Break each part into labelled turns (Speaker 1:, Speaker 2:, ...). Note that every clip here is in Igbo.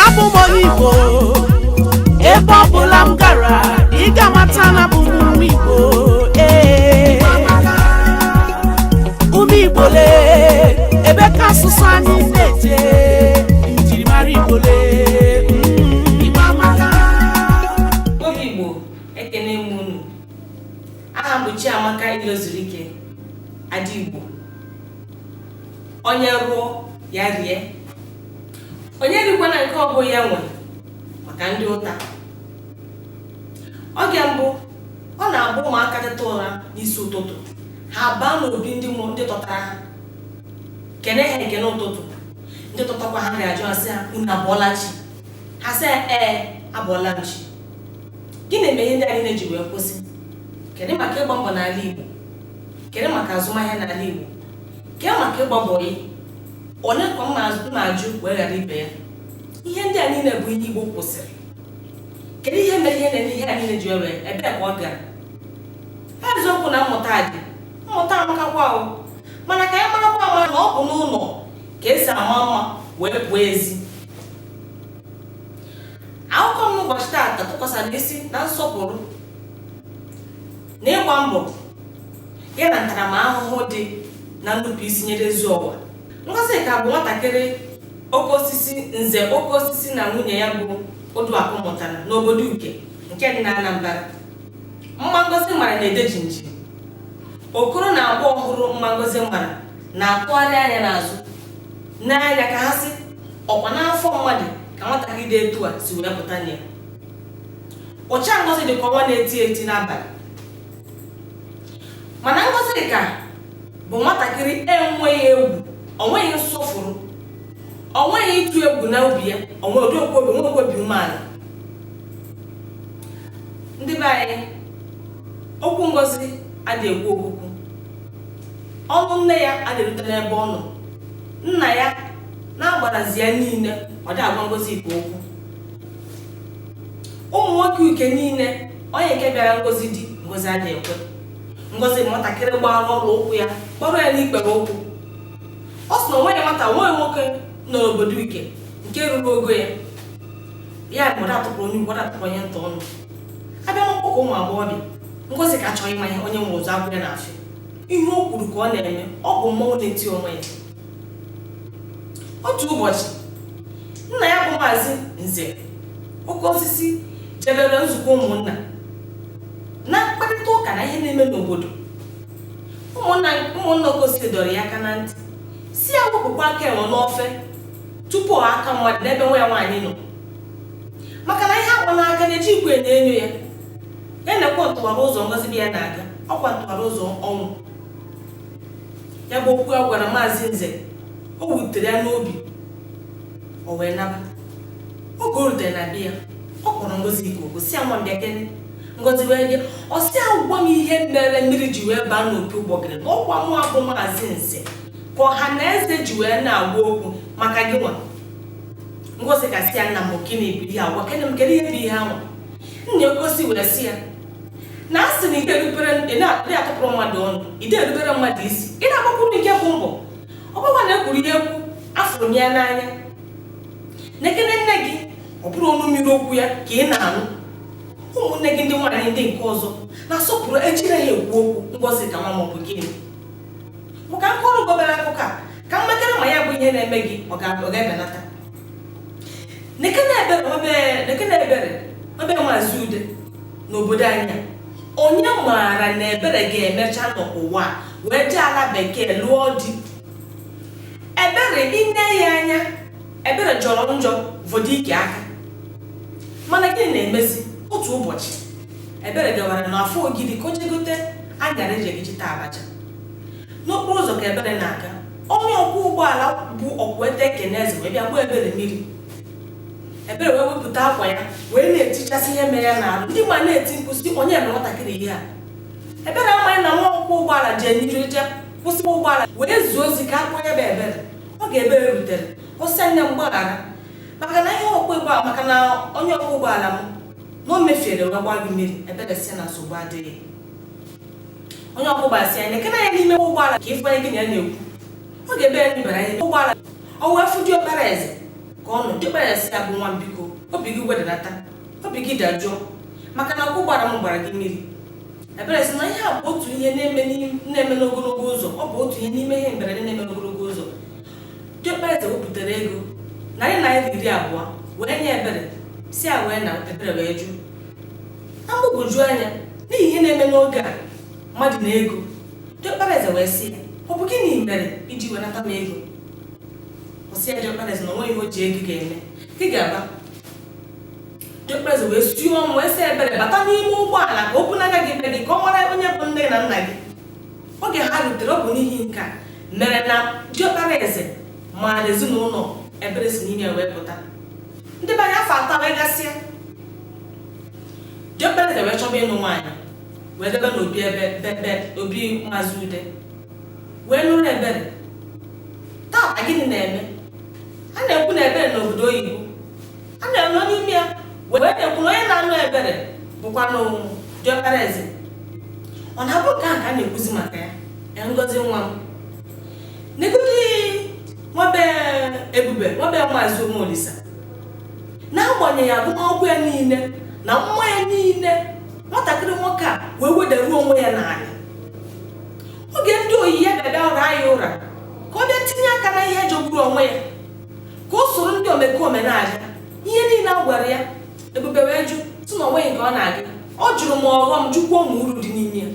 Speaker 1: abụ m onye igbo ebe ọ bụla m gara ị ga-amata na abụ m nwa igbo ee ụmụ igbo lee ebe ka asụsụ anyị na-eje njirimara igbo lee mm. Igbo
Speaker 2: amaka. obi igbo ekene m unu aha m bụ chiamaka ilozuruike ada igbo onye rụọ ya rie onye rikwana nke ọ bụ ya nwe maka ndị ụta oge mbụ ọ na-abụ ụmụaka teta ụra n'isi ụtụtụ ha baa n'obi ndị ndị tọtara ha kene ha ekene ụtụtụ ndị tọtakwa ha ga-ajụ asị ha unu abọọla chi ha sị ee abọọla m chi gịnị mere ihe ndị a niile ji wee kwụsị kedu maka ịgba mbọ n'ala Igbo kedu maka azụmahịa n'ala Igbo kee maka ịgba bọyị onye ka m na-ajụ wee ghara ibe ya ihe ndị a niile bụ ihe igbo kwụsịrị kedu ihe mere ihe na-eme ihe a niile ji were ebe ka ọ gara ha eziokwu na mmụta dị mmụta amakakwa o mana ka anyị marakwa ama na ọ bụ n'ụlọ ka e si ama mma wee pụọ ezi akụkọ m n'ụbọchị taata tụkwasara isi na nsọpụrụ na ịgba mbọ ya na ntaramahụhụ dị na nnupụisi nyere ezi ụwa Ngozika bụ nwatakịrị oke osisi nze oke osisi na nwunye ya bụ Oduakụ mụtara n'obodo Uke nke dị na Anambra mma Ngozi mara na-ede jinji okoro na agbọghọ hụrụ mma Ngozi mara na-atụgharị anya n'azụ n'anya ka ha sị ọkwa n'afọ mmadụ ka nwatakịrị dị etu a si wee pụta na ya ụcha Ngozi dị ka ọnwa na-eti eti n'abalị mana Ngozika bụ nwatakịrị enweghị egwu onweghị nsọfụrụ onweghị ịtụ egwu na obi ya onwedịkwu obi nwekwu obi umeala ndị be anyị okwu ngozi adị ekwe okwukwu ọnụ nne ya adị erute n'ebe ọ nọ nna ya na-agbarazi ya niile ọ dị agwa ngozi ikpe okwu ụmụ nwoke uke niile Onye nke bịara ngozi di, ngozi adị ekwe. Ngozi nwatakịrị gbara ọla ụkwụ ya kpọrọ ya n'ikpere ụkwụ. Ọ sị na onweghị nwata nweghị nwoke nọ n'obodo Uke nke ruru ogo ya. Ya bụ ọda atụpụrụ onye ukwu, ọda atụpụrụ onye nta ọnụ. A bịa n'ọgbakọ ụmụ agbọghọbịa, Ngozika achọghị ịma ihe onye nwe ụzọ agwụ ya n'afịa. Ihe o kwuru ka ọ na-eme, ọ bụ mmọnwụ na-eti onwe ya. otu ụbọchị nna ya bụ maazị nze oke osisi jebere nzukọ ụmụnna na mkparịta ụka na ihe na-eme n'obodo ụmụnna oke osisi dọrọ ya aka na ntị si ya wepụkwa aka enwe n'ofe tupu ọ aka mmadụ n'ebe nwa ya nwaanyị nọ maka na ihe agba n'aka na ejighịkwa enyo enyo ya ya nekwe ntụwara ụzọ ngozi be ya na-aga ọkwa ntụwara ụzọ ọnwụ ya bụ okwu a gwara maazị nze o wutere ya n'obi o wee naba oge o rutere na be ya ọ kpọrọ ngozika oku si ya nwa m bịakene ngozi wee bịa ọ sị ya gwa m ihe mere mmiri ji wee baa n'opi ụgbọgịrị na ọkwa mụwa bụ maazị nze ka ọha na eze ji wee na-agwa okwu maka gị nwa ngozika si ya nna m gịnị bụ ihe a gwakene m kedu ihe bụ ihe anwa nze oke osisi wee si ya na a sị na ị naghị atụpụrụ mmadụ ọnụ ide erubere mmadụ isi ị na-agbakwuru nke bụ mbọ ọ bụkwa na ekwuru ya ekwu afụrụ m ya n'anya nekene nne gị ọ bụrụ ọnụ mmiri okwu ya ka ị na-anụ ụmụnne gị ndị nwaanyị ndị nke ọzọ na-asọpụrụ ejiri ha ekwu okwu ngozika nwa m ọ bụ gịnị ma ka m kọọrọ gị obere akụkọ a ka m makwara ma ya bụ ihe na-eme gị ọ ga-ebenata n'obodo anyị onye maara na ebere ga-emecha n'ụwa wee jee ala bekee lụọ di ebere i nee ya anya ebere jọrọ njọ vọdụ ike aka mana gịnị na-emezi otu ụbọchị ebere gawara n'afọ ogidi ka o jegote anyara eji taa abacha n'okporo ụzọ ka ebere na-aga onye ọkwọ ụgbọala bụ ọkwete keneze wee bịa gbuo ebere mmiri ebere wee wepụta akwa ya wee na-etichasị ihe mere ya n'arụ ndị ma na-eti mkpu si onye mere nwatakịrị ihe a ebere amaghị na nwa ọkwọ ụgbọala jee n'iru je kwụsị ụgbọala wee zie ozi ka a kpọọ ya bụ ebere oge ebere rutere ọ sị nne m gbaghara maka na ihe maka na onye ọkwọ ụgbọala m na o mefiere wee gbaa gị mmiri ebere si na nsogbu adịghị onye ọkwọ ụgbọala sị ya nekene ya n'ime ụgbọala ka ị fụ onye gị na ya na-ekwu oge ebere nebara anya n'ime ụgbọala o wee fụ diọkpara eze ka ọ nọ diọkpara eze sị ya bụ nwa m biko obi gị wedata obi gị dajụọ maka na ọkwọ ụgbọala m gbara gị mmiri ebere sị na ihe a bụ otu ihe na-eme n'im- na-eme n'ogologo ụzọ ọ bụ otu ihe n'ime ihe mberede na-eme n'ogologo ụzọ diọkpara eze wepụtara ego narị naira iri abụọ wee nye ebere si ya wee naa ebere wee jụ na mgbagwoju anya n'ihi ihe na-eme n'oge a mmadụ na ego diọkpara eze wee sị ya ọ bụ gịnị mere iji wenata m ego ọ sị ya diọkpara eze na onweghị ihe o ji ego ga-eme gị ga-aba diọkpara eze wee sie ọnwụ wee sị ebere bata n'ime ụgbọala ka o bunaga gị be gị ka ọ mara onye bụ nne na nna gị oge ha rutere ọ bụ n'ihi nke a mere na diọkpara eze maara ezinụlọ ebere si n'ime ya wee pụta ndị be anyị afọ atọ wee gasịa Diọkpara eze wee chọba ịnụ nwaanyị wee debe n'obi ebe bebe obi maazị ude wee nụrụ ebere taa gịnị na-eme a na-ekwu na ebere nọ obodo oyibo a na-anọ n'ime ya wee na-ekwu na onye na-anụ ebere bụkwanụ diọkpara eze ọ na-abụ nke a ka a na-ekwuzi maka ya ngozi nwa m negodi nwa be ebube nwa be maazị umeolisa n'agbanyeghị agụmakwụkwọ ya niile na mma ya niile nwatakịrị nwoke a wee wedaruo onwe ya n'ala oge ndị oyi ya bịa bịa ụra ya ụra ka ọ bịa tinye aka na ihe jogburu onwe ya ka o soro ndị omekome na-aga ihe niile a gwara ya ebube wee jụ sị na onweghị nke ọ na-aga ọ jụrụ ma ọghọm jụkwuo ma uru dị n'ime ya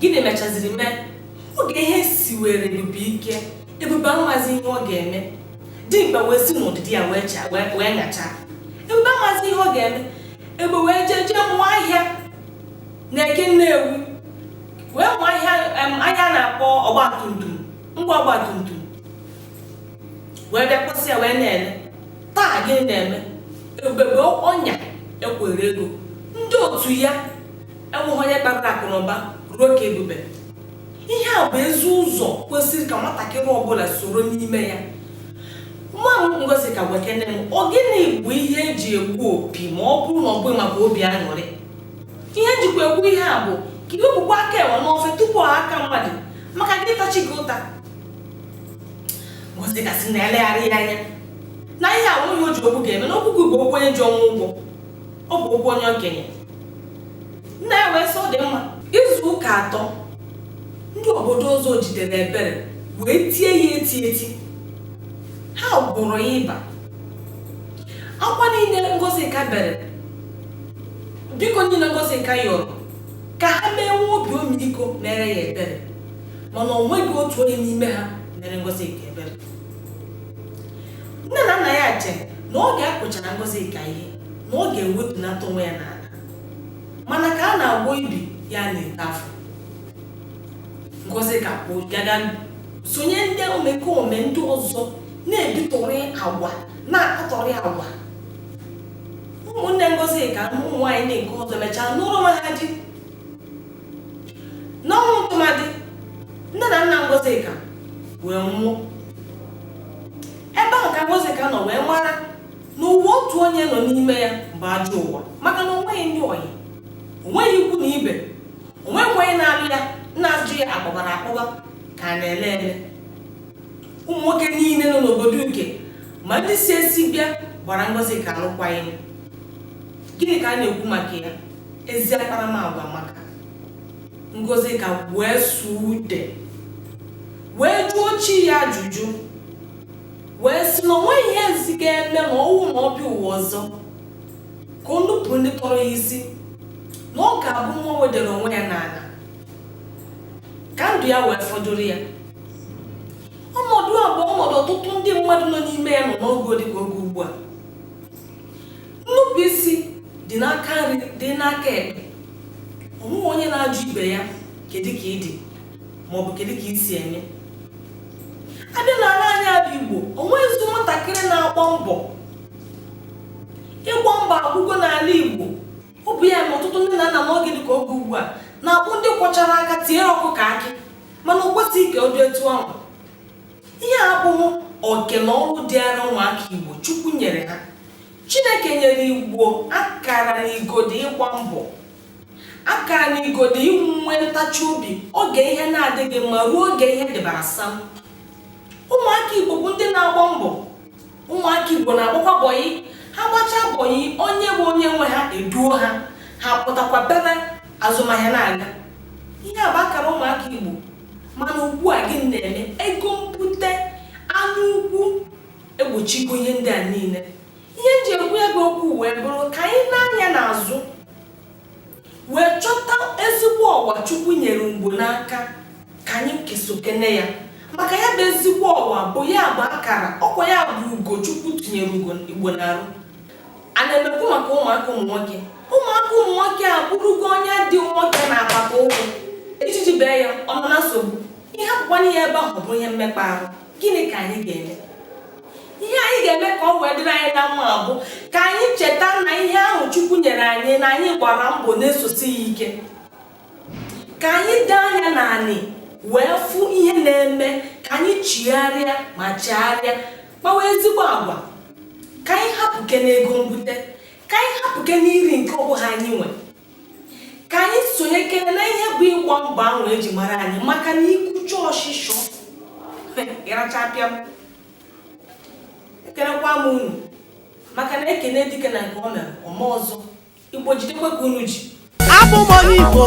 Speaker 2: gịnị mechaziri mee oge ihe siwere ebube ike ebube amazi ihe ọ ga-eme dimkpa wee si n'ụdịdị ya wee chaa wee wee nyachaa ebube amazi ihe ọ ga-eme ebube wee jee jee mụọ ahịa na eke nnewi wee mụọ ahịa em, ahịa a na-akpọ ọgbatumtum ngwa ọgbatumtum wee bịa kwụsị ya wee na-ele taa gịnị na-eme ebube ọnya ekwere ego ndị otu ya enweghị onye kpatara akụ na ụba ruo ka ebube ihe a bụ ezi ụzọ kwesịrị ka nwatakịrị ọbụla soro n'ime ya nwa m ngozika gwekene m ọ gịnị bụ ihe e ji egbu opi ma ọ bụrụ na ọ bụghị maka obi aṅụrị ihe m jikwa ekwu ihe a bụ ka i wepụkwa aka enwe n'ofe tupu aka mmadụ maka gị ịta chi gị ụta ngozika sị na elegharị ya anya na ya enweghị ihe o ji okwu ga-eme na okwu gị bụ okwu onye ji ọnwụ ụgwọ ọ bụ okwu onye okenye nna ya wee sị ọ dị mma izu ụka atọ ndị obodo ọzọ jidere ebere wee tie ya eti eti ha gwụrụ ya ịba akwa niile ngozika bere biko niile ngozika yọrọ ka ha mee nwee obi ọmịiko meere ya ebere mana o nweghị otu onye n'ime ha meere ngozika ebere nne na nna ya chere na oge a kụchara ngozika ihe na ọ ga-ewetunata onwe ya n'ala mana ka a na-agwọ ibi ya na-eto afọ ngozika gaga sonye ndị omekome ndị ọzọ na-ebitụrị agwa na-akatọrị agwa ụmụnne ngozika ụmụ nwaanyị ndị nke ọzọ mechaa n'ụlọ nwa ha di n'ọnwụ ntụmadị nne na nna ngozika wee nwụọ ebe ahụ ka ngozika nọ wee mara na ụwa otu onye nọ n'ime ya bụ ajọ ụwa maka na onweghị ndị ọyị onweghị ikwu na ibe onweghị onye na-alụ ya na-ajụ ya akpọbara akpọba ka a na-ele ele ụmụ nwoke niile nọ n'obodo uke ma ndị si esi bịa gbara ngozika alụkwaghị m gịnị ka a na-ekwu maka ya ezi akparamagwa amaka ngozika wee suo ude wee jụọ chi ya ajụjụ wee sị na onweghị ihe ezi ga-eme ma ọ bụ na ọ bịa ụwa ọzọ ka o nupụ ndị tọrọ ya isi na ọ ga-abụ nwa wedere onwe ya n'ala ka ndụ ya wee fọdụrụ ya ọnọdụ a bụ ọnọdụ ọtụtụ ndị mmadụ nọ n'ime ya nọ n'oge dị ka oge ugbu a nnupụ isi dị n'aka nri dị n'aka ekpe onweghị onye na-ajụ ibe ya kedu ka ị dị ma ọ bụ kedu ka i si eme a bịa n'ala anyị a bụ igbo onweghịzi nwatakịrị na-agba mbọ ịgba mbọ agwụgo n'ala igbo ọ bụ ya na ọtụtụ ndị nne na nna n'oge dị ka oge ugbu a na-abụ ndị kwọchara aka tiere ọkụkọ akị mana o kwesịghị ka ọ dị etu ahụ ihe a abụghị oke na ọrụ dịara ụmụaka igbo chukwu nyere ha chineke nyere igbo akara na igodi ịgba mbọ akara na igodi inwe ntachi obi oge ihe na-adịghị mma ruo oge ihe dịbara sam ụmụaka igbo bụ ndị na-agba mbọ ụmụaka igbo na-agbakwa bọyị ha gbachaa bọyị onye bụ onye nwe ha eduo ha ha pụtakwa bere azụmahịa na-aga ihe a bụ akara ụmụaka igbo mana ugbu a gị na-eme ego mbute anya ukwu egbochigo ihe ndị a niile ihe m ji ekwu ego okwu wee bụrụ ka anyị nee anya n'azụ wee chọta ezigbo ọwa chukwu nyere igbo n'aka ka anyị kesokene ya maka ya bụ ezigbo ọwa bụ ya bụ akara ọkwa ya bụ ugo chukwu tinyere igbo n'arụ a na m ekwu maka ụmụaka ụmụ nwoke ụmụaka ụmụ nwoke a bụrụgo onye dị nwoke na-akpata ụkwụ ijiji bee ya ọ nọ na nsogbu ihe akwụkwọ n'ihe ebe ahụ bụ ihe mmekpa ahụ gịnị ka anyị ga-eme ihe anyị ga-eme ka ọ wee dịrị anyị na mma bụ ka anyị cheta na ihe ahụ chukwu nyere anyị na anyị gbara mbọ na-esosi ya ike ka anyị dee anya n'anị wee fụ ihe na-eme ka anyị chigharịa ma chegharịa kpawa ezigbo agwa ka anyị hapụkene ego mbute ka anyị hapụkene iri nke ọ bụha anyị nwe ka anyị sonyekene na ihe bụ ịgba mbọ ahụ eji mara anyị maka na ikucha ọshịshọ ịracha pịam ekelekwa m unu maka na ekene dike na nke o mere o mee ọzọ igbo jidekwa ka unu ji abụ m
Speaker 1: onye igbo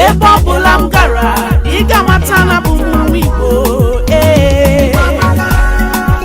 Speaker 1: ebe ọ bụla m gara ị ga-amata na abụ m nwa igbo